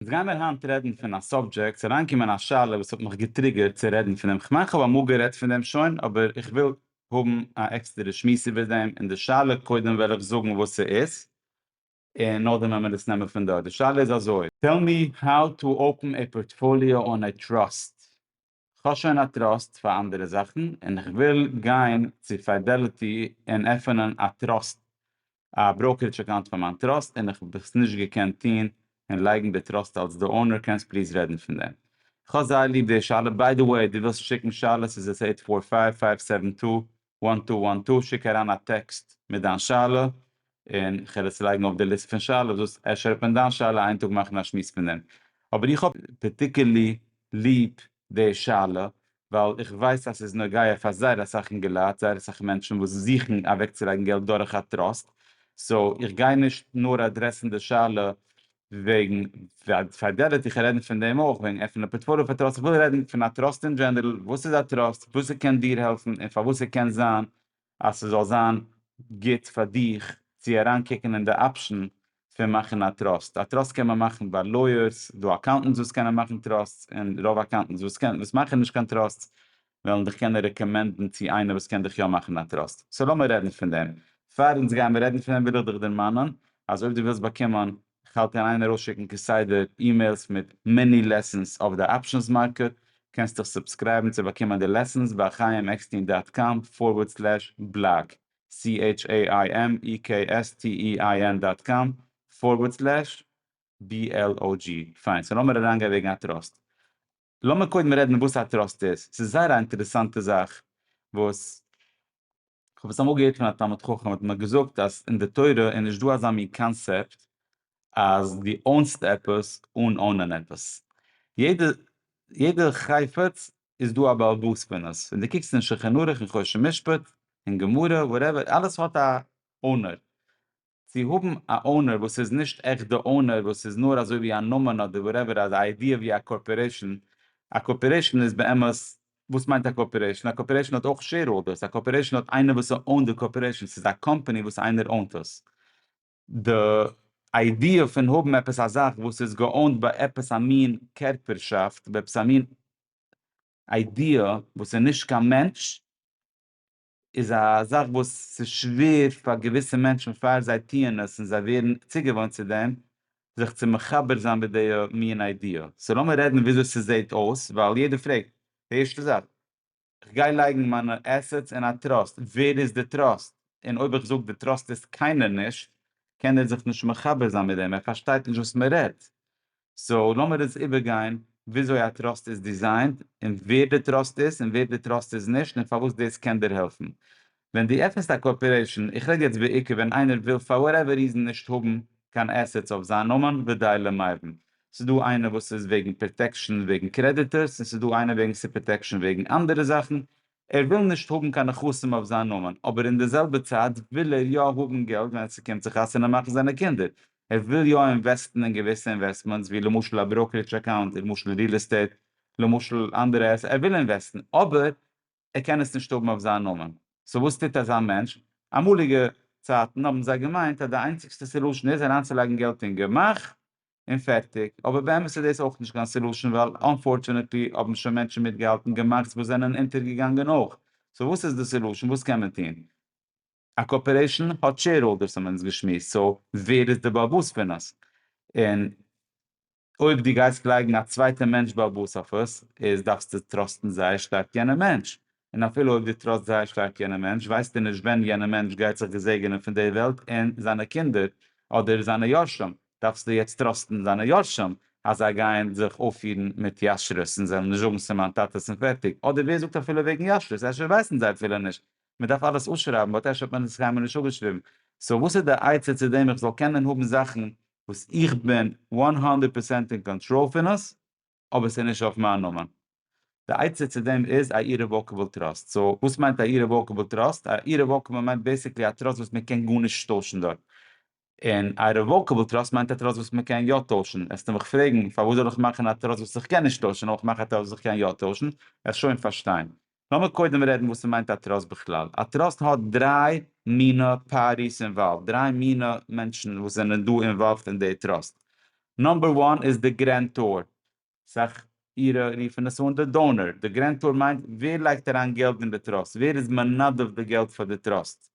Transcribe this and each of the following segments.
אונז גיימער היינט רעדן פון א סאבדזשעקט, ס'איז אריינגעקומען א שאלה וואס האט מיך געטריגערט צו רעדן פון דעם, כ'מיין כ'האב אמאל גערעדט פון דעם שוין, אבער איך וויל האבן א עקסטערע שמועס איבער דעם, און די שאלה, קודם וועל איך זאגן וואס ס'איז, און נאכדעם וועל מיר עס נעמען פון דארט, די שאלה איז אזוי. טעל מי האו טו אפען עי פארטפאליאו אן עי טראסט כ'האב שוין א טראסט פאר אנדערע זאכן און כ'וויל גיין צו פידעליטי און עפענען א טראסט א בראוקערידזש אקאונט פאר מיין טראסט און כ'האב עס נישט געקענט טון און לייגן די טראסט אלס די אונער קענסט פליז רעדן פון דעם? כ'האב זייער ליב די שאלה, ביי די וועי די ווילסט שיקן שאלות איז עס עיט פאר פייוו פייוו סעווען טו וואן טו וואן טו, שיק אריין א טעקסט מיט דיין שאלה און כ'וועל עס לייגן אויף די ליסט פון שאלות וואס אפשר וועט מען דיין שאלה איין טאג מאכן א שמועס פון דעם. אבער איך האב פארטיקערלי ליב די שאלה ווייל איך ווייס אז ס'איז נוגע פאר זייער אסאך אינגעלייט, זייער אסאך מענטשן וואס זוכן אוועקצולייגן געלט דורך א טראסט, סאו איך גיי נישט נאר אדרעסן די שאלה וועגן פארדעדערט איך רעדן פון דעם אויך וועגן עפענען א פארטפאליאו פאר טראסט איך וויל רעדן פון א טראסט אין דזשענערל וואס איז א טראסט וואס ס'קען דיר העלפן און פארוואס ס'קען זיין אז ס'זאל זיין גוט פאר דיך צו אריין קוקן אין די אפשן פון מאכן א טראסט א טראסט קען מען מאכן ביי לויערס דא אקאונטענטס וואס קענען מאכן טראסטס און רוב אקאונטענטס וואס קענען וואס מאכן נישט קיין טראסטס וועלן דיך קענען רעקאמענדן צו איינער וואס קען דיך יא מאכן א טראסט, סאו לאמיר רעדן פון דעם. פאר אונז גייען רעדן פון דעם וויל איך דיך דערמאנען אז אויב דו ווילסט באקומען, כ'האלט אין איין ארויסשיקן כסדר אימעילס מיט מיני לעסענס אויף די אפשענס מארקעט, קענסט דיך סובסקרייבן צו באקומען די לעסענס ביי חיים עקסטין דאט קאם פארווערד סלעש בלאג, CHAIMEKSTEIN דאט קאם פארווערד סלעש BLOG. פיין, סאו לאמיר אריינגיין וועגן א טראסט. לאמיר קודם רעדן וואס א טראסט איז, ס'איז זייער א אינטערעסאנטע זאך וואס כ'האב עס אמאל געהערט פון א תלמיד חכם האט מיר געזאגט אז אין די תורה איז נישט דא אזא מין קאנסעפט אז דו אונסט עפעס אן אונען עפעס, יעדע יעדע חפץ איז דא א בעל בית פון עס, ווען דו קוקסט אין שלחן ערוך און חושן משפט און גמרא וואטעווער אלעס האט א אונער, צו האבן א אונער וואס איז נישט עכט די אונער וואס איז נאר אזוי ווי א נאמען אדער וואטעווער א איידיע ווי א קארפארעישאן, א קארפארעישאן איז באמת וואס מיינט א קארפארעישאן? א קארפארעישאן האט אויך שעירהאלדערס, א קארפארעישאן האט איינער וואס אונט די קארפארעישאן, ס'איז א קאמפאני וואס איינער אונט עס. די איידיע פון האבן עפעס א זאך וואס איז געאונט ביי עפעס א מין קערפערשאפט, ביי עפעס א מין איידיע וואס איז נישט קיין מענטש, איז א זאך וואס ס'איז שווער פאר געוויסע מענטשן פאר זיי טוען עס און זיי ווערן צוגעוואוינט צו דעם, זיך צו מחבר זיין מיט די מין איידיע. סאו לאמיר רעדן וויאזוי ס'זעהט אויס, ווייל יעדער פרעגט. די ערשטע זאך, כ'גיי לייגן מיינע עסעטס אין א טראסט, ווער איז די טראסט? און אויב איך זאג די טראסט איז קיינער נישט, קען ער זיך נישט מחבר זיין מיט דעם, ער פארשטייט נישט וואס מ'רעדט. סאו לאמיר אונז איבערגיין וויאזוי א טראסט איז דיזיינט און ווער די טראסט איז און ווער די טראסט איז נישט און פארוואס דאס קען דיר העלפן ווען דו עפענסט א קארפארעישן, איך רעד יעצט בעיקר ווען איינער וויל פאר וואטעווער ריזן נישט האבן קיין עסעטס אויף זיין נאמען ודי למאירן, ס'איז דא איינער וואס איז וועגן פראטעקשן וועגן קרעדיטארס און ס'איז דא איינער וועגן ס'פראטעקשן וועגן אנדערע זאכן, ער וויל נישט האבן קיין נכסים אויף זיין נאמען, אבער אין די זעלבע צייט וויל ער יא האבן געלט ווען עס קומט צו חתונה מאכן זיינע קינדער, ער וויל יא אינוועסטן אין געוויסע אינוועסטמענטס ווי למשל א בראוקערידזש אקאונט, למשל ריעל עסטעיט, למשל אנדערע עסעטס, ער וויל אינוועסטן אבער ער קען עס נישט האבן אויף זיין נאמען, סאו וואס טוט אזא מענטש? אמאליגע צייטן האבן זיי געמיינט אז די איינציגסטע סעלושען איז אריינצולייגן געלט אין גמח און פערטיג, אבער באמת איז דאס אויך נישט קיין סעלושען ווייל אנפארטשענעטלי האבן שוין מענטשן מיטגעהאלטן געמאכטס וואס זענען אונטערגעגאנגען אויך, סאו וואס איז די סעלושען? וואס קען מען טון? א קארפארעישאן האט שעירהאלדערס האבן אונז געשמועסט, סאו ווער איז די באבאס פון עס? און אויב דו גייסט לייגן א צווייטע מענטש באבאס אויף עס איז דארפסטו טראסטן זייער שטארק יענע מענטש, און אפילו אויב דו טראסט זייער שטארק יענע מענטש, ווייסטו נישט ווען יענע מענטש גייט זיך געזעגענען פון די וועלט און זיינע קינדער אדער זיינע יורשים, דארפסטו יעצט טראסטן זיינע יורשים אז זיי גייען זיך אויפפירן מיט ישרות און זיי וועלן נישט זאגן ס'איז מיין טאטע'ס און פערטיג, אדער ווער זאגט אפילו וועגן ישרות, אפשר ווייסן זיי אפילו נישט, מען דארף אלעס אפשרייבן באט אפשר האט מען עס קיינמאל נישט אפגעשריבן, סאו וואס איז די עצה צו דעם איך זאל קענען האבן זאכן וואס איך בין הונדערט פראצענט אין קאנטראל פון עס? אבער ס'איז נישט אויף מיין נאמען. די עצה צו דעם איז א אירעוואקעבל טראסט. סאו וואס מיינט א אירעוואקעבל טראסט? א אירעוואקעבל מיינט בעיסיקלי א טראסט וואס מ'קען גארנישט טוישן דארט. און א רעוואקעבל טראסט מיינט א טראסט וואס מ'קען יא טוישן. וועסטו מיך פרעגן, פארוואס זאל איך מאכן א טראסט וואס איך קען נישט טוישן אויב איך מאך א טראסט וואס איך קען יא טוישן? וועסט שוין פארשטיין. לאמיר קודם רעדן וואס ס'מיינט א טראסט בכלל. א טראסט האט דריי מינא פארטיס אינוואלווד, דריי מינא מענטשן וואס זענען דא אינוואלווד אין די טראסט. נאמבער וואן איז די גרענטאר, אסאך אירע רופן עס אן די דאונער. די גרענטאר מיינט ווער לייגט אריין געלט אין די טראסט, ווער איז מנדב די געלט פאר די טראסט.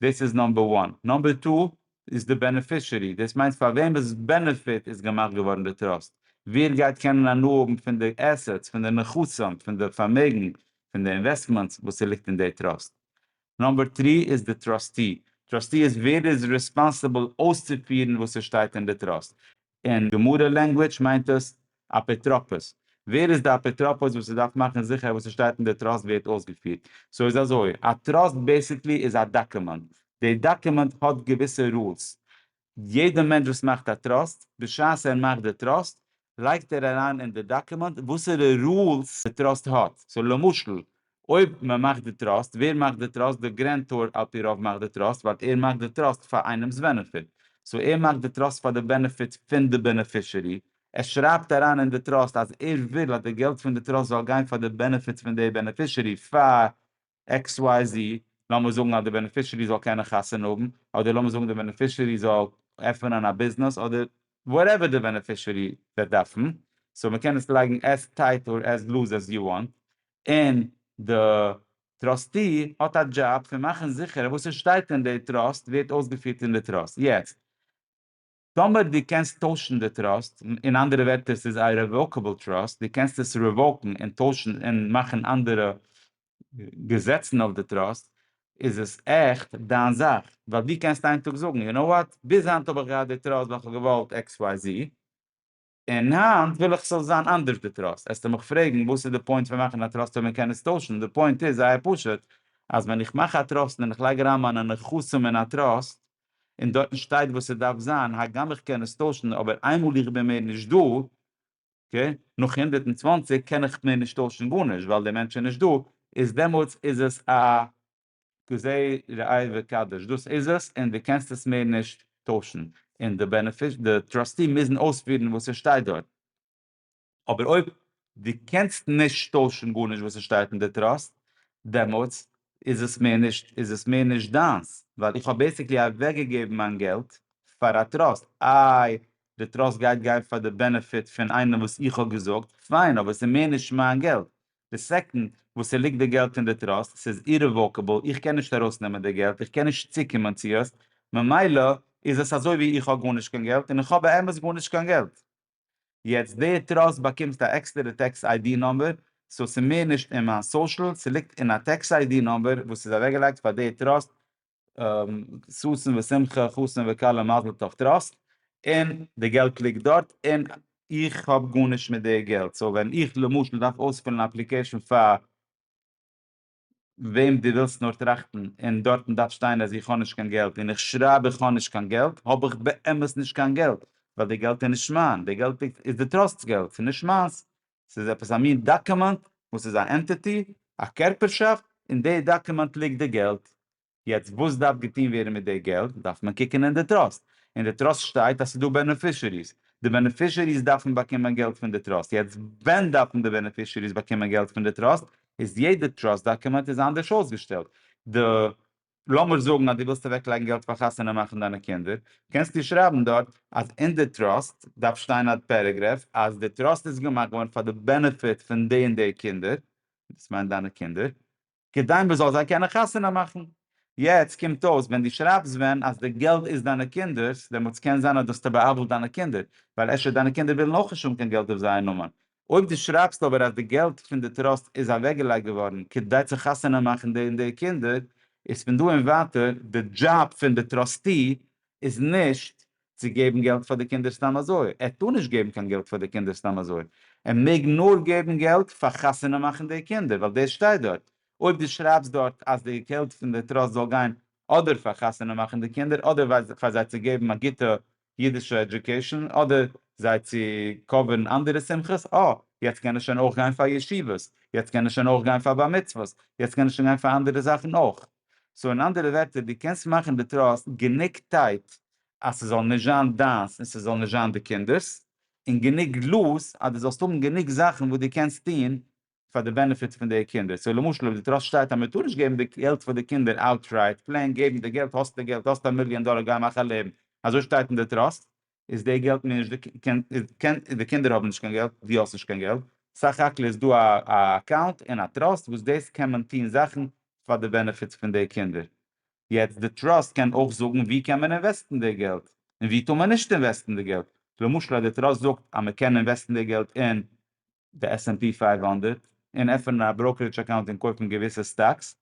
דאס איז נאמבער וואן. נאמבער טו איז די בענעפישערי, דאס מיינט פאר וועמענס בענעפיט איז געמאכט געווארן די טראסט, ווער גייט קענען הנאה האבן פון די עסעטס, פון די נכסים, פון די פארמעגן, פון די אינוועסטמענטס וואס ס'ליגט אין די טראסט. נאמבער טרי איז די טראסטי, טראסטי איז ווער איז ריספאנסיבל אויסצופירן וואס ס'שטייט אין די טראסט, אין גמרא לענגוויטש מיינט עס אפוטרופוס, ווער איז די אפוטרופוס וואס איז דארף מאכן זיכער אז וואס איז שטייט אין די טראסט ווערט אויסגעפירט, סאו איז אזוי, א טראסט בעסיקלי איז א דאקומענט, די דאקומענט האט געוויסע רולס, יעדע מענטש וואס מאכט א טראסט, בשעת ער מאכט די טראסט לייגט ער אריין אין די דאקומענט וואסערע רולס די טראסט האט, סאו למשל אויב מען מאכט די טראסט, ווער מאכט די טראסט? די גרענטאר על פי רוב מאכט די טראסט ווייל ער מאכט די טראסט פאר איינעמ'ס בענעפיט. סאו ער מאכט די טראסט פאר די בענעפיט פון די בענעפישערי. ער שרייבט אריין אין די טראסט אז ער וויל אז די געלט פון די טראסט זאל גיין פאר די בענעפיטס פון די בענעפישערי פאר עקס וויי זי. לאמיר זאגן אז די בענעפישערי זאל קענען חתונה האבן, אדער לאמיר זאגן די בענעפישערי זאל עפענען א ביזנעס, אדער וואטעווער די בענעפישערי וועט דארפן. סאו מען קען עס לייגן עז טייט אר עז לוז עז יו וואנט. און די טראסטי האט א דזשאב פון מאכן זיכער אז וואס עס שטייט אין די טראסט ווערט אויסגעפירט אין די טראסט. יעצט טאמער דו קענסט טוישן די טראסט, אין אנדערע ווערטער ס'איז א רעוואקעבל טראסט, דו קענסט עס רעוואקן און טוישן און מאכן אנדערע געזעצן אויף די טראסט, איז עס עכט דיין זאך, ווייל דו קענסט איין טאג זאגן, יו נאו וואט, ביז היינט האב איך געהאט די טראסט ווייל כ'האב געוואלט עקס וויי זי, און היינט וויל איך ס'זאל זיין אנדערש די טראסט, עסטו מיך פרעגן וואס איז די פוינט פון מאכן א טראסט אויב מען קען עס טוישן, די פוינט איז זייער פשוט, אז ווען איך מאך א טראסט און איך לייג אריין מיינע נכסים אין א טראסט, און דארטן שטייט וואס ס'דארף זיין, הגם איך קען עס טוישן, אבער איינמאל איך בין מער נישט דא, אקעי, נאך הונדערט און צוואַנציק, קען איך מער נישט טוישן גארנישט, ווייל דער מענטש איז נישט דא, איז דעמאלטס איז עס א כזה ראה וקדש, דאס איז עס און דו קענסט עס מער נישט טוישן, און די בענעפיש די טראסטי מוזן אויספירן וואס עס שטייט דארט, אבער אויב דו קענסט נישט טוישן גארנישט וואס עס שטייט אין די טראסט, דעמאלטס איז עס מער נישט איז עס מער נישט דיינס, ווייל איך האב בעסיקלי אוועק געגעבן מיין געלט פאר א טראסט, איי די טראסט גייט גיין פאר די בענעפיט פון איינעם וואס איך האב געזאגט, פיין אבער עס איז מער נישט מיין געלט, די סעקאנד וואס ס'ליגט די געלט אין די טראסט, ס'איז אירעוואקעבל, איך קען נישט ארויסנעמען די געלט, איך קען נישט צוקומען צו עס, ממילא איז עס אזוי ווי איך האב גארנישט קיין געלט, און איך האב באמת גארנישט קיין געלט. יעצט די טראסט באקומסט א עקסטערע טעקס איידי נומבער, סאו ס'איז מער נישט אין מיין סאושעל, ס'ליגט אין א טעקס איידי נומבער וואס איז אוועקגעלייגט פאר די טראסט ששון ושמחה חתן וכלה מזל טוב טראסט און די געלט ליגט דארט און איך האב גארנישט מיט די געלט סאו ווען איך למשל דארף אויספילן א אפליקעישן פאר וועם דו ווילסט נאר טראכטן און דארטן דארף שטיין אז איך האב נישט קיין געלט און איך שרייב איך האב נישט קיין געלט האב איך באמת נישט קיין געלט ווייל די געלט איז נישט מיין די געלט איז די טראסט'ס געלט ס'איז נישט מיינס ס'איז עפעס א מין דאקומענט וואס איז א ענטיטי, א קערפערשאפט, אין די דאקומענט ליגט די געלט. יעצט וואס דארף געטון ווערן מיט די געלט, דארף מען קוקן אין די טראסט, אין די טראסט שטייט אז ס'איז דא בענעפישעריס, די בענעפישעריס דארפן באקומען געלט פון די טראסט, יעצט ווען דארפן די בענעפישעריס באקומען געלט פון די טראסט, איז יעדע טראסט דאקומענט איז אנדערש אויסגעשטעלט, די. לאמיר זאגן אז דו ווילסט אוועק לייגן געלט פאר חתונה מאכן דיינע קינדער, קענסטו שרייבן דארט אז אין די טראסט דארף שטיין א פערעגרעף אז די טראסט איז געמאכט געווארן פאר די בענעפיט פון די און די קינדער, דאס מיינט דיינע קינדער, כדי מ'זאל זיי קענען חתונה מאכן. יעצט קומט אויס ווען דו שרייבסט ווען אז די געלט איז דיינע קינדער'ס, דעמאלטס קען זיין אז דו האסט ער בא'עוול'ט דיינע קינדער, ווייל אפשר דיינע קינדער ווילן אויך נישט האבן קיין געלט אויף זייער נאמען, אויב דו שרייבסט אבער אז די געלט פון די טראסט איז אוועקגעלייגט געווארן כדי צו חתונה מאכן די און די קינדער, איז פון דא און ווייטער די דזשאב פון די טראסטי איז נישט צו געבן געלט פאר די קינדער סתם אזוי, ער טאר נישט געבן קיין געלט פאר די קינדער סתם אזוי, ער מעג נאר געבן געלט פאר חתונה מאכן די קינדער, ווייל דאס שטייט דארט, אויב דו שרייבסט דארט אז די געלט פון די טראסט זאל גיין אדער פאר חתונה מאכן די קינדער אדער פאר זיי צו געבן א גוטע אידישע עדיוקעישאן אדער זיי צו קאווערן אנדערע שמחות, אה, יעצט קען ער שוין אויך גיין פאר ישיבות, יעצט קען ער שוין אויך גיין פאר בר מצוות, יעצט קען ער שוין גיין פאר אנדערע זאכן אויך. סאו אין אנדערע ווערטער, דו קענסט מאכן די טראסט גענוג טייט אז ס'זאל נישט זיין דיינס און ס'זאל נישט זיין די קינדער'ס, און גענוג לוז אז דו זאלסט האבן גענוג זאכן וואס דו קענסט טון פאר די בענעפיט פון די קינדער, סאו למשל אויב די טראסט שטייט אז מען טאר נישט געבן די געלט פאר די קינדער אוטרייט, פלעין געבן די געלט, האסט די געלט, האסט א מיליאן דאלער גיי מאך א לעבן, אזוי שטייט אין די טראסט, איז די געלט מיר נישט, די קינדער האבן נישט קיין געלט, דו האסט נישט קיין געלט, סך הכל איז דא א אקאונט אין א טראסט וואס דאס קען מען טון זאכן פאר די בענעפיט פון די קינדער, יעצט די טראסט קען אויך זאגן ווי קען מען אינוועסטן די געלט, און ווי טאר מען נישט אינוועסטן די געלט, למשל אז די טראסט זאגט אז מען קען אינוועסטן די געלט אין די עס ענד פי פֿינף הונדערט און עפענען א בראוקערידזש אקאונט און קויפן געוויסע סטאקס,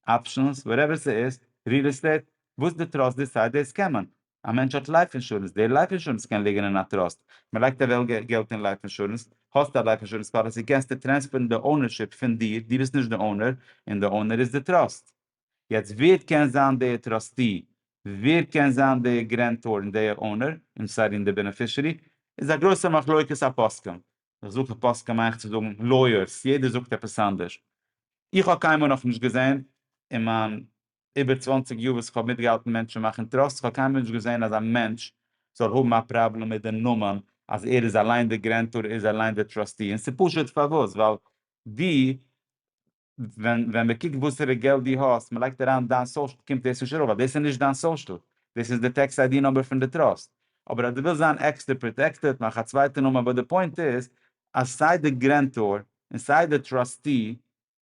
אפשענס, וואטעווער ס'איז, ריעל עסטעיט, וואס די טראסט דיסייד דאס קען מען. א מענטש האט לייף אינשורענס, די לייף אינשורענס קען ליגן אין א טראסט, מ'לייגט אוועק געלט אין לייף אינשורענס, האסט א לייף אינשורענס פאליסי קענסטו טרענספערן די אונערשיפ פון דיר, דו ביסט נישט די אונער, און די אונער איז די טראסט. יעצט ווער קען זיין די טראסטי? ווער קען זיין די גרענטאר און די אונער? איים סארי און די בענעפישערי? איז א גרויסע מחלוקת הפוסקים. איך זוך א פסק כמיין איך צו זאגן לויערס יעדער זאגט עפעס אנדערש איך האב קיינמאל נאכנישט געזען אין מיין איבער צוואַנציק יאר וואס איך האב מיטגעהאלטן מענטשן מאכן טראסט איך האב קיינמאל נישט געזען אז א מענטש זאל האבן א פראבלעם מיט די נאמען אז ער איז אליין די גרענטאר ער איז אליין די טראסטי און ס'פשוט פארוואס ווייל די ווען מען קוקט וואסערע געלט דו האסט, מען לייגט אריין דיין סאושל קומט דאס נישט ארויף ווייל דאס איז נישט דיין סאושל, דאס איז די טעקס איידי נומבער פון די טראסט. אבער אז דו ווילסט זיין עקסטער פראטעקטעד מאך א צווייטע נאמען אבער די פוינט איז אז סיי די גרענטאר און סיי די טראסטי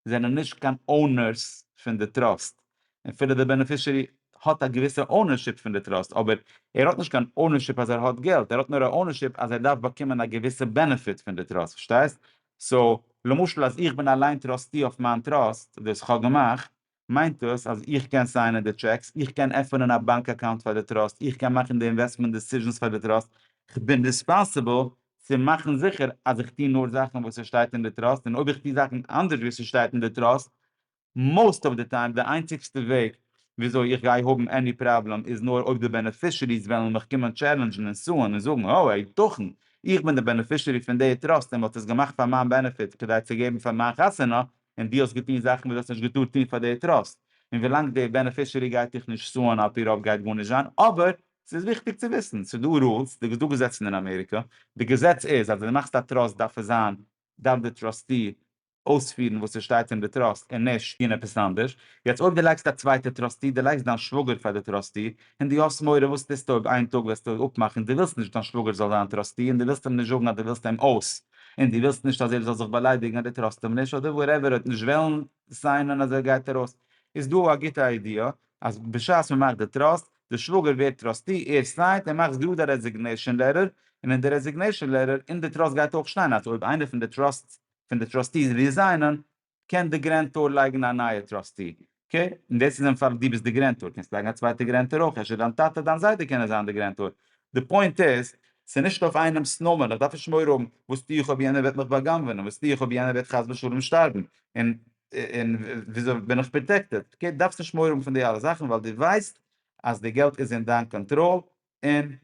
זענען נישט קיין אונערס פון די טראסט און אפילו די בענעפישערי האט א געוויסע אונערשיפ פון די טראסט אבער ער האט נישט קיין אונערשיפ אז ער האט געלט ער האט נאר א אונערשיפ אז ער דארף באקומען א געוויסע בענעפיט פון די טראסט פארשטייסט סאו, למשל אז איך בין אליין טראסטי אויף מיין טראסט, דאס כ'האב געמאכט, מיינט דאס אז איך קען סיינען די טשעקס, איך קען עפענען א באנק אקאונט פאר די טראסט, איך קען מאכן די אינוועסטמענט דיסיזשענס פאר די טראסט, כ'בין ריספאנסיבל צו מאכן זיכער אז איך טו נאר זאכן וואס ס'שטייט אין די טראסט, און אויב איך טו זאכן אנדערש ווי ס'שטייט אין די טראסט, מאוסט אוו די טיים די איינציגסטע וועג וויאזוי איך גיי האבן עני פראבלעם איז נאר אויב די בענעפישעריס וועלן מיך קומען טשעלענדזשן און סוען און זאגן האו היתכן איך בין די בענעפישערי פון די טראסט און מ'האט עס געמאכט פאר מיין בענעפיט כדי צו געבן פאר מיין חתונה און דו האסט געטון זאכן וואס דו האסט נישט געטארט טון פאר די טראסט און ווילאנג די בענעפישערי גייט דיך נישט סוען על פי רוב גייט גארנישט זיין אבער ס'איז וויכטיג צו וויסן ס'איז דא רולס די ס'דא געזעצן אין אמעריקא די געזעץ איז אז ווען דו מאכסט א טראסט דארף עס זיין דארף די טראסטי אויספירן וואס ס'שטייט אין די טראסט און נישט טון עפעס אנדערש, יעצט אויב דו לייגסט א צווייטע טראסטי, דו לייגסט דיין שוואגער פאר די טראסטי, און דו האסט מורא וואס טוסטו אויב איין טאג וועסטו אפמאכן דו ווילסט נישט דיין שוואגער זאל זיין טראסטי און דו ווילסט אים נישט זאגן אז דו ווילסט אים אויס און דו ווילסט נישט אז ער זאל זיך באליידיגן אז דו טראסט אים נישט אדער וואטעווער אויב נישט וועלן סיינען אז ער גייט ארויס איז דא א גוטע איידיע אז בשעת מ'מאכט די טראסט די שוואגער ווערט טראסטי ער סיינט און מאכסט גראד א רעזיגנעישאן לעטער און אין די רעזיגנעישאן לעטער אין די טראסט גייט אויך שטיין אז אויב איינער פון די טראסט פון די טראסטיס ריזיינען קען די גרענטאר לייגן א נייע טראסטי, אקעי? און דאס איז אין פאל דו ביסט די גרענטאר, קענסט לייגן א צווייטע גרענטאר אויך, אפשר דיין טאטע דיין זיידע קענען זיין די גרענטאר, די פוינט איז ס'איז נישט אויף איינעמס נאמען, איך דארף נישט מורא האבן וואס טו איך אויב יענער וועט מיך בא'גנב'ענען, וואס טו איך אויב יענער וועט חס ושלום שטארבן, און און וויאזוי בין איך פראטעקטעד, אקעי? דו דארפסט נישט מורא האבן פון די אלע זאכן ווייל דו ווייסט אז די געלט איז אין דיין קאנטראל און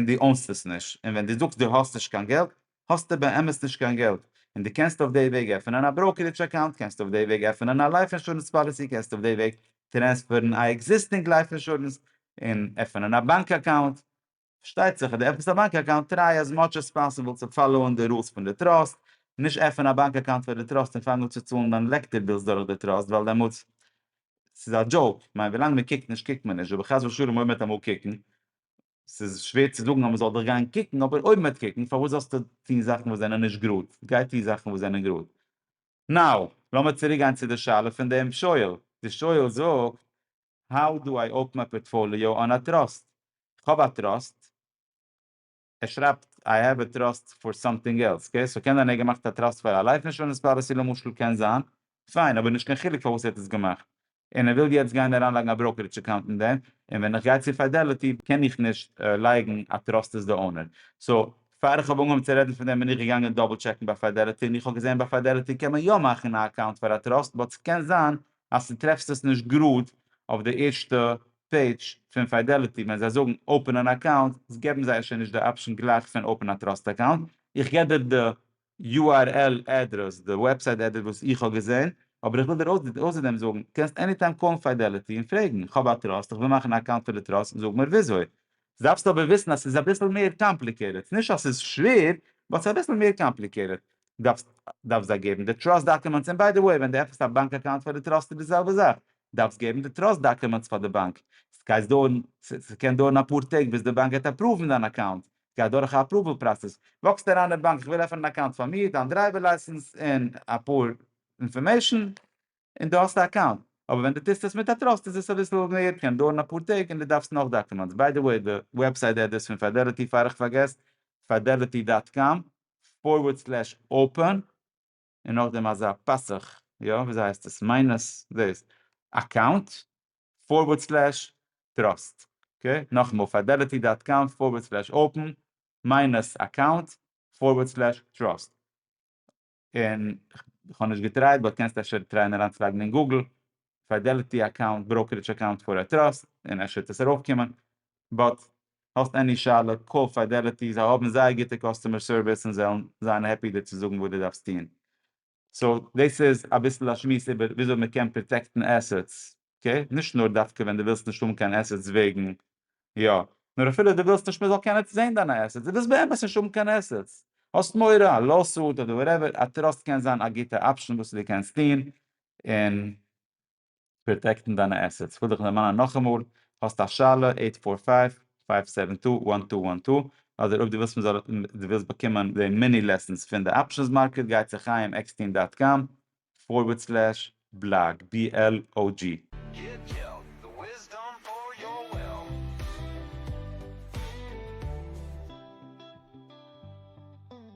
דו אונסט עס נישט, און ווען דו זאגסט דו האסט נישט קיין געלט האסטו באמת נישט קיין געלט און דו קענסט אויף דעי וועג עפענען א בראוקערידזש אקאונט, קענסט אויף דעי וועג עפענען א לייף אינשורענס פאליסי, קענסט אויף דעי וועג טרענספערן א עקזיסטינג לייף אינשורענס און עפענען א באנק אקאונט, פארשטייט זיך אז דו עפנסט א באנק אקאונט טריי עז מאטש עז פאסיבל צו פאלאוען די רולס פון די טראסט, נישט עפן א באנק אקאונט פאר די טראסט און פאנג אן צו צאלן דיין לעקטער בילס דורך די טראסט ווייל דעמאלטס ס'איז א דזשאוק, כ'מיין ווילאנג מ'קוקט נישט קוקט מען נישט, ובחס ושלום אויב מ'וועט אמאל קוקן ס'איז שווער צו זאגן אז מ'זאל דיך גיין קוקן, אבער אויב מ'וועט קוקן, פארוואס זאלסטו טון זאכן וואס זענען נישט גראד? גיי טו זאכן וואס זענען גראד. נאו, לאמיר צוריקגיין צו די שאלה פון דעם שואל. די שואל זאגט, האו דו איי אפן א פארטפאליאו אן א טראסט? כ'האב א טראסט. ער שרייבט איי העוו א טראסט פאר סאמטינג עלס. אקעי, סאו קען זיין ער האט געמאכט א טראסט פאר א לייף אינשורענס פאליסי למשל, קען זיין. פיין, אבער נישט קיין חילוק פארוואס ער האט עס געמאכט. און ער וויל יעצט גיין אריינלייגן א בראוקערידזש אקאונט אין דעם, און ווען איך גיי צו פידעליטי קען איך נישט לייגן א טראסט איז די אונער, סאו פאר איך האב אנגעהויבן צו רעדן פון דעם בין איך געגאנגען דאבל טשעקן ביי פידעליטי און איך האב געזען ביי פידעליטי קען מען יא מאכן א אקאונט פאר א טראסט באט ס'קען זיין אז ס'איז טרעפסט עס נישט גראד אויף די ערשטע פעידזש פון פידעליטי ווען זיי זאגן אופן אן אקאונט געבן זיי שוין נישט די אפשן גלייך פון אופן א טראסט אקאונט איך געב דיר די url address, די וועבסייט עדרעס וואס איך האב געזען, אבער איך וויל דיר אויסער דעם זאגן, קענסט עני טיים קאלן פידעליטי און פרעגן, איך האב א טראסט, איך וויל מאכן א אקאונט פאר די טראסט, זאג מיר וויאזוי. דארפסט אבער וויסן אז ס'איז אביסל מער קאמפליקעטעד, נישט אז ס'איז שווער, באט ס'איז אביסל מער קאמפליקעטעד, דארפסט דארפסט זיי געבן די טראסט דאקומענטס, און ביי די וועי ווען דו עפענסט א באנק אקאונט פאר די טראסט איז די זעלבע זאך, דארפסט געבן די טראסט דאקומענטס פאר די באנק, ס'קען דויערן אפאר טעג ביז די באנק גייט אפראוון דיין אקאונט, גייט דורך א אפראוועל פראסעס, וואקסט אריין אין באנק איך וויל עפענען א אקאונט פאר מיר, דיין דרייווער לייסענס און אפאר אינפארמעישאן, און דו האסט א אקאונט. אבער ווען דו טוסט עס מיט א טראסט איז עס אביסל מער, קען דויערן אפאר טעג און דו דארפסט נאך דאקומענטס, ביי די וועי די וועבסייט אדרעס פון פידעליטי פאר איך פארגעס, פידעליטי דאט קאם פארווערד סלעש אפען. און נאכדעם אזא פסח, יא וויאזוי הייסט עס, מיינוס דאס, אקאונט, פארווארד סלעש, טראסט, אקעי, נאכאמאל, פיידעליטי דאט קאם פארווארד סלעש אפען, מיינוס אקאונט, פארווארד סלעש, טראסט, און כ'האב נישט געטרייט באט קענסט אפשר טרייען אריינצולייגן אין גוגל פידעליטי אקאונט, בראוקערידזש אקאונט פאר א טראסט, און אפשר וועט עס ארויף קומען, באט האסט עני שאלה קאל פידעליטי, זיי האבן זייער גוטע קאסטומער סערוויס און זיי וועלן זיין העפי דיר צו זאגן וואס דו דארפסט טון. סאו דאס איז אביסל א שמועס איבער וויאזוי מען קען פראטעקטן עסעטס, אקעי? נישט נאר דווקא ווען דו ווילסט נישט האבן קיין עסעטס וועגן יא, נאר אפילו דו ווילסט נישט מען זאל קענען זען דיינע עסעטס, דו ווילסט באמת נישט האבן קיין עסעטס, האסט מורא א לאוסוט אדער וואטעווער, א טראסט קען זיין א גוטע אפשן וואס דו קענסט טון, און פראטעקטן דיינע עסעטס. כ'וועל דיך דערמאנען נאכאמאל, האסט א שאלה, אייט פאר פייוו, פייוו סעווען טו, וואן טו וואן טו, אדער אויב דו ווילסט מ'זאל דו ווילסט באקומען די מיני לעסענס פון די אפשענס מארקעט גיי צו חיים עקסטין דאט קאם פארווערד סלעש בלאג בי על או גי.